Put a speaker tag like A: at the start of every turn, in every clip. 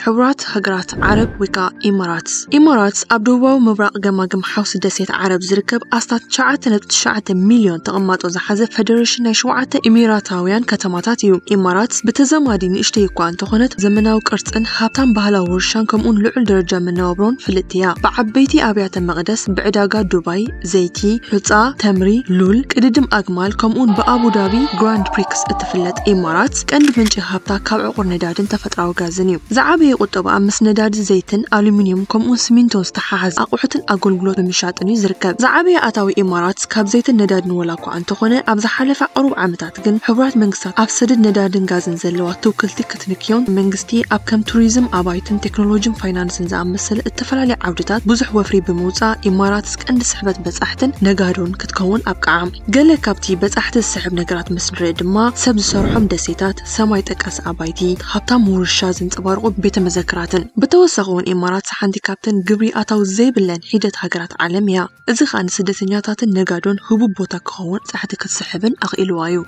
A: ሕቡራት ሃገራት ዓረብ ወይ ከዓ ኢማራትስ ኢማራትስ ኣብ ደቡባዊ ምብራቕ ገማግም ሓውሲ ደሴት ዓረብ ዝርከብ ኣስታት 9.9 ሚልዮን ተቐማጦ ዝሓዘ ፈደሬሽን ናይ ሸውዓተ ኢሚራታውያን ከተማታት እዩ። ኢማራትስ ብተዛማዲ ንእሽተይ እኳ እንተኾነት ዘመናዊ ቅርፅን ሃብታም ባህላዊ ውርሻን ከምኡውን ልዑል ደረጃ መነባብሮን ፍልጥቲ እያ። ብዓበይቲ ኣብያተ መቕደስ፣ ብዕዳጋ ዱባይ፣ ዘይቲ፣ ሑጻ፣ ተምሪ፣ ሉል፣ ቅድድም ኣግማል ከምኡውን ብኣቡዳቢ ግራንድ ፕሪክስ እትፍለጥ ኢማራት ቀንዲ ምንጪ ሃብታ ካብ ዕቑር ነዳድን ተፈጥራዊ ጋዝን እዩ። ዝዓበየ ቁጠባኣ ምስ ነዳዲ፣ ዘይትን፣ ኣሉሚንየም ከምኡውን ስሚንቶን ዝተሓሓዘ ኣቑሑትን ኣገልግሎት ብምሻጥን እዩ ዝርከብ። ዝዓበየ ኣታዊ ኢማራት ካብ ዘይትን ነዳድን ወላኳ እንተኾነ ኣብ ዝሓለፈ ቁሩብ ዓመታት፣ ሃገራት ግን ሕቡራት መንግስታት ኣብ ሰደድ ነዳድን ጋዝን ዘለዋ ትውክልቲ ክትንክዮን መንግስቲ ኣብ ከም ቱሪዝም፣ ኣባይትን ቴክኖሎጂን ፋይናንስን ዝኣመሰለ እተፈላለየ ዓውድታት ብዙሕ ወፍሪ ብምውጻእ ኢማራትስ ቀንዲ ስሕበት በጻሕትን ነጋዶን ክትከውን ኣብቅዓ። ገለ ካብቲ በጻሕቲ ዝስሕብ ነገራት ምስ ንርኢ ድማ ሰብ ዝሰርሖም ደሴታት፣ ሰማይ ጠቀስ ኣባይቲ፣ ሃብታም ውርሻ ዘንጸባርቑ ቤተ መዘክራትን። ብተወሳኺ'ውን ኢማራትስ ሓንቲ ካብተን ግብሪ ኣታዊ ዘይብለን ሒደት ሃገራት ዓለም እያ። እዚ ኸኣ ንስደተኛታትን ነጋዶን ህቡብ ቦታ ክኸውን ጻሕቲ ክትስሕብን ኣኽኢልዋ እዩ።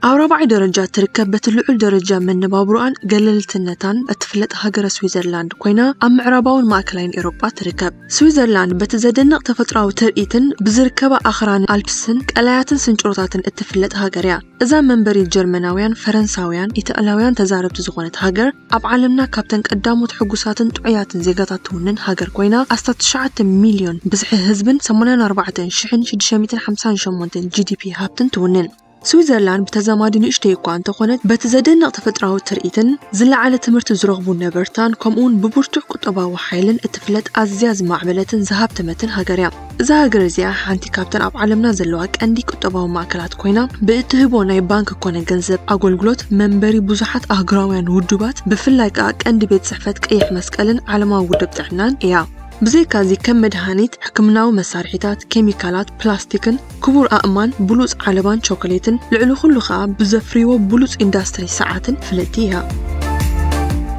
A: ኣብ ራብዓይ ደረጃ እትርከብ በቲ ልዑል ደረጃ መነባብሮኣን ገለልትነታን እትፍለጥ ሃገረ ስዊዘርላንድ ኮይና ኣብ ምዕራባውን ማእከላይን ኤውሮጳ ትርከብ። ስዊዘርላንድ በቲ ዘደንቕ ተፈጥሮኣዊ ትርኢትን ብዝርከባ ኣኽራንን ኣልፕስን ቀላያትን ስንጭሮታትን እትፍለጥ ሃገር እያ። እዛ መንበሪ ጀርመናውያን፣ ፈረንሳውያን፣ ኢጣልያውያን ተዛረብቲ ዝኾነት ሃገር፣ ኣብ ዓለምና ካብተን ቀዳሞት ሕጉሳትን ጥዑያትን ዜጋታት ትውንን ሃገር ኮይና፣ ኣስታት ትሽዓተ ሚልዮን ብዝሒ ህዝብን ሰማንያን ኣርባዕተን ሽሕን ሽዱሽተ ሚእትን ሓምሳን ሸሞንተን ጂዲፒ ሃብትን ትውንን። ስዊዘርላንድ ብተዛማዲ ንእሽተይ እኳ እንተኾነት፣ በቲ ዘደንቕ ተፈጥሮኣዊ ትርኢትን ዝለዓለ ትምህርቲ ዝረኽቡ ነበርታን ከምኡ'ውን ብብርቱዕ ቁጠባዊ ሓይልን እትፍለጥ ኣዝያ ዝማዕበለትን ዝሃብተመትን ሃገር እያ። እዛ ሃገር እዚኣ ሓንቲ ካብተን ኣብ ዓለምና ዘለዋ ቀንዲ ቁጠባዊ ማእከላት ኮይና ብእትህቦ ናይ ባንክ ኮነ ገንዘብ ኣጎልግሎት መንበሪ ብዙሓት ኣህጉራውያን ውዱባት ብፍላይ ከኣ ቀንዲ ቤት ጽሕፈት ቀይሕ መስቀልን ዓለማዊ ውድብ ጥዕናን እያ። ብዘይካዚ ከም መድሃኒት፣ ሕክምናዊ መሳርሒታት፣ ኬሚካላት፣ ፕላስቲክን፣ ክቡር ኣእማን ብሉጽ ዓለባን ቾኮሌትን ልዕሊ ኩሉ ከኣ ብዘፍርይዎ ብሉጽ ኢንዳስትሪ ሰዓትን ፍልጥቲ እያ።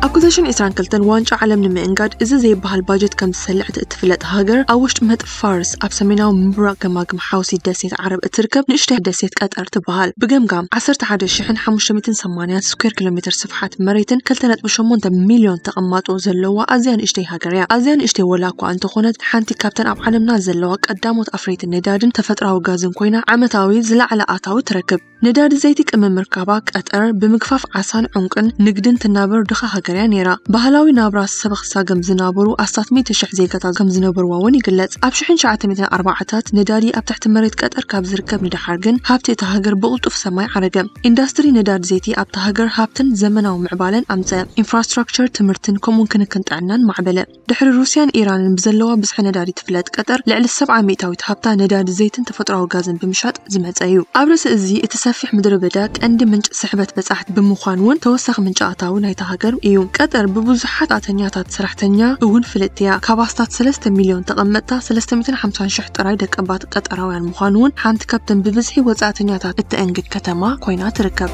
A: ኣብ ክልተ ሽሕን ዕስራን ክልተን ዋንጫ ዓለም ንምእንጋድ እዚ ዘይበሃል ባጀት ከም ዝሰልዕ እቲ እትፍለጥ ሃገር ኣብ ውሽጢ ምህጥ ፋርስ ኣብ ሰሜናዊ ምብራቕ ገማግም ሓውሲ ደሴት ዓረብ እትርከብ ንእሽተይ ደሴት ቀጠር ትበሃል። ብገምጋም ዓሰርተ ሓደ ሽሕን ሓሙሽተ ሚእትን ሰማንያ ስኩዌር ኪሎሜተር ስፍሓት መሬትን ክልተ ነጥቢ ሸሞንተ ሚልዮን ተቐማጦ ዘለዋ ኣዝያ ንእሽተይ ሃገር እያ። ሃገር እያ። ኣዝያ ንእሽተይ ዋላ'ኳ እንተኾነት፣ ሓንቲ ካብተን ኣብ ዓለምና ዘለዋ ቀዳሞት ኣፍረይቲ ነዳዲን ተፈጥሮኣዊ ጋዝን ኮይና ዓመታዊ ዝለዓለ ኣታዊ ትረክብ። ነዳዲ ዘይቲ ቅመም ምርካባ፣ ቀጠር ብምግፋፍ ዓሳን ዑንቂን ንግድን ትናበር ድኻ ሃገር እያ ነይራ። ባህላዊ ናብራ ሰበኽሳገም ዝናበሩ ኣስታት ሚእቲ ሽሕ ዜጋታት ከም ዝነበሩዋ'ውን ይግለጽ። ኣብ ሽሕን ሸውዓተ ሚእትን ኣርባዓታት ነዳዲ ኣብ ትሕቲ መሬት ቀጠር ካብ ዝርከብ ንደሓር ግን ሃብቲ እታ ሃገር ብቕልጡፍ ሰማይ ዓረገ። ኢንዳስትሪ ነዳዲ ዘይቲ ኣብታ ሃገር ሃብትን ዘመናዊ ምዕባለን ኣምጸ። ኢንፍራስትራክቸር ትምህርትን ከምኡውን ክንክን ጥዕናን ማዕበለ። ድሕሪ ሩስያን ኢራንን ብዘለዋ ብዝሒ ነዳዲ ትፍለጥ ቀጠር፣ ልዕሊ ሰብዓ ሚእታዊት ሃብታ ነዳዲ ዘይትን ተፈጥሮኣዊ ጋዝን ብምሻጥ ዝመጸ እዩ። ኣብ ርእሲ እዚ፣ እቲ ሰፊሕ ምድረበዳ ቀንዲ ምንጪ ስሕበት በጻሕቲ ብምዃን እውን ተወሳኺ ምንጪ ኣታዊ ናይታ ሃገር እዩ። ቀጠር ብብዙሓት ኣተኛታት ሰራሕተኛ እውን ፍልጥቲ እያ። ካብ ኣስታት ሰለስተ ሚልዮን ተቐመጥታ፣ ሰለስተ ሚእትን ሓምሳን ሽሕ ጥራይ ደቀባት፣ ቀጠራውያን ምዃኑ እውን ሓንቲ ካብተን ብብዝሒ ወጻእተኛታት እተእንግድ ከተማ ኮይና ትርከብ።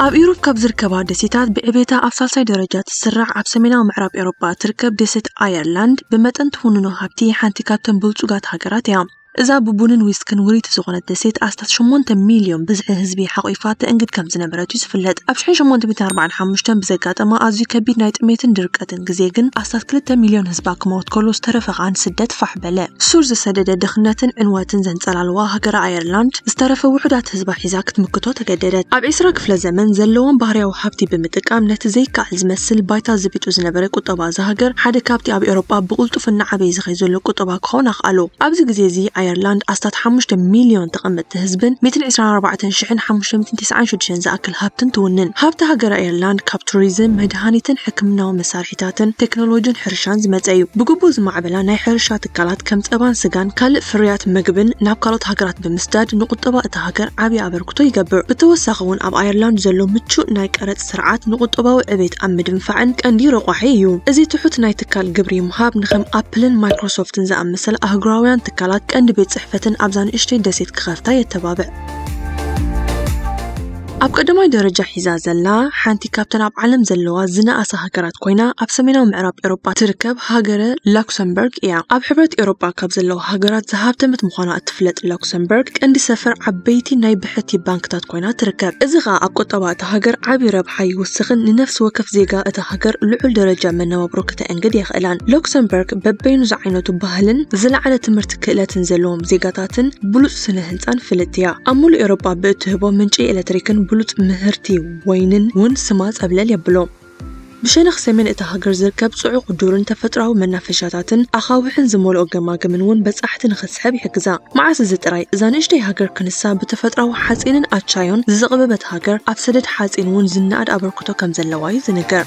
A: ኣብ ኢሮብ ካብ ዝርከባ ደሴታት ብዕቤታ ኣብ ሳልሳይ ደረጃ ትስራዕ ኣብ ሰሜናዊ ምዕራብ ኤውሮጳ እትርከብ ደሴት ኣየርላንድ ብመጠን ትውንኖ ሃብቲ ሓንቲ ካብተን ብልጹጋት ሃገራት እያ። እዛ ብቡንን ዊስክን ውርይቲ ዝኾነት ደሴት ኣስታት ሸሞንተ ሚልዮን ብዝሒ ህዝቢ ሓቝፋ ተእንግድ ከም ዝነበረት እዩ ዝፍለጥ። ኣብ ሽሕን ሸሞንተ ሚእትን ኣርባዓን ሓሙሽተን ብዘጋጠማ ኣዝዩ ከቢድ ናይ ጥሜትን ድርቀትን ዝሓለፈ ግዜ ግን ኣስታት ክልተ ሚልዮን ህዝባ ክመውት ከሎ ዝተረፈ ከኣ ንስደት ፋሕ በለ። ሱር ዝሰደደ ድኽነትን ዕንወትን ዘንጸላልዋ ሃገረ ኣየርላንድ ዝተረፈ ውሑዳት ህዝባ ሒዛ ክትምክቶ ተገደደት። ኣብ ዕስራ ክፍለ ዘመን ዘለዎም ባህርያዊ ሃብቲ ብምጥቃም ነቲ ዘይከኣል ዝመስል ባይታ ዝቢጡ ዝነበረ ቁጠባ እዛ ሃገር ሓደ ካብቲ ኣብ ኤውሮጳ ብቕልጡፍ እናዓበየ ዝኸይድ ዘሎ ቁጠባ ክኸውን ኣኽኣሎ። ኣብዚ ግዜ እዚ ኣየርላንድ ኣስታት ሓሙሽተ ሚልዮን ተቐመጥቲ ህዝብን ሚእትን ዕስራን ኣርባዕተን ሽሕን ሓሙሽተ ሚእትን ቴስዓን ሸዱሽተን ዝኣክል ቁጠባን ሃብትን ትውንን። ሃብቲ ሃገረ ኣየርላንድ ካብ ቱሪዝም፣ መድሃኒትን ሕክምናዊ መሳርሒታትን፣ ቴክኖሎጂን ሕርሻን ዝመጸ እዩ። ብግቡእ ዝማዕበላ ናይ ሕርሻ ትካላት ከም ጸባን ስጋን ካልእ ፍርያት መግብን ናብ ካልኦት ሃገራት ብምስዳድ ንቁጠባ እታ ሃገር ዓቢ ኣበርክቶ ይገብር። ብተወሳኺ'ውን ኣብ ኣየርላንድ ዘሎ ምቹእ ናይ ቀረጽ ስርዓት ንቁጠባዊ ዕቤት ኣብ ምድንፋዕን ቀንዲ ረቋሒ እዩ። እዚ ትሑት ናይ ትካል ግብሪ ምሃብ ንከም ኣፕልን ማይክሮሶፍትን ዝኣመሰላ ኣህጉራውያን ትካላት ቀንዲ ቤት ጽሕፈትን ኣብዛ ንእሽተይ ደሴት ክኸፍታ የተባብዕ። ኣብ ቀዳማይ ደረጃ ሒዛ ዘላ ሓንቲ ካብተን ኣብ ዓለም ዘለዋ ዝነኣሳ ሃገራት ኮይና ኣብ ሰሜናዊ ምዕራብ ኤሮጳ ትርከብ ሃገረ ላክሰምበርግ እያ። ኣብ ሕብረት ኤሮጳ ካብ ዘለዋ ሃገራት ዝሃብተመት ምዃና እትፍለጥ ላክሰምበርግ ቀንዲ ሰፈር ዓበይቲ ናይ ብሕቲ ባንክታት ኮይና ትርከብ። እዚ ኸኣ ኣብ ቁጠባ እታ ሃገር ዓቢ ረብሓ ይውስኽን ንነፍሲ ወከፍ ዜጋ እታ ሃገር ልዑል ደረጃ መነባብሮ ከተእንግድ የኽእላን። ላክሰምበርግ በበይኑ ዝዓይነቱ ባህልን ዝለዓለ ትምህርቲ ክእለትን ዘለዎም ዜጋታትን ብሉጽ ስነ ህንጻን ፍልጥቲ እያ። ኣብ ሙሉእ ኤውሮጳ ብእትህቦ ምንጪ ኤለትሪክን ብሉጽ ምህርቲ ወይንን እውን ስማ ጸብለል የብሎ። ብሸነኽ ሰሜን እታ ሃገር ዝርከብ ጽዑቕ ዱርን ተፈጥሮኣዊ መናፈሻታትን ኣኻውሕን ዝመልኦ ገማግምን እውን በጻሕቲ ንኽትስሕብ ይሕግዛ። መዓስ እዚ ጥራይ! እዛ ንእሽተይ ሃገር ክንሳ ብተፈጥሮኣዊ ሓጺንን ኣቻዮን ዝዘቕበበት ሃገር፣ ኣብ ሰደድ ሓጺን እውን ዝነኣድ ኣበርክቶ ከም ዘለዋ እዩ ዝንገር።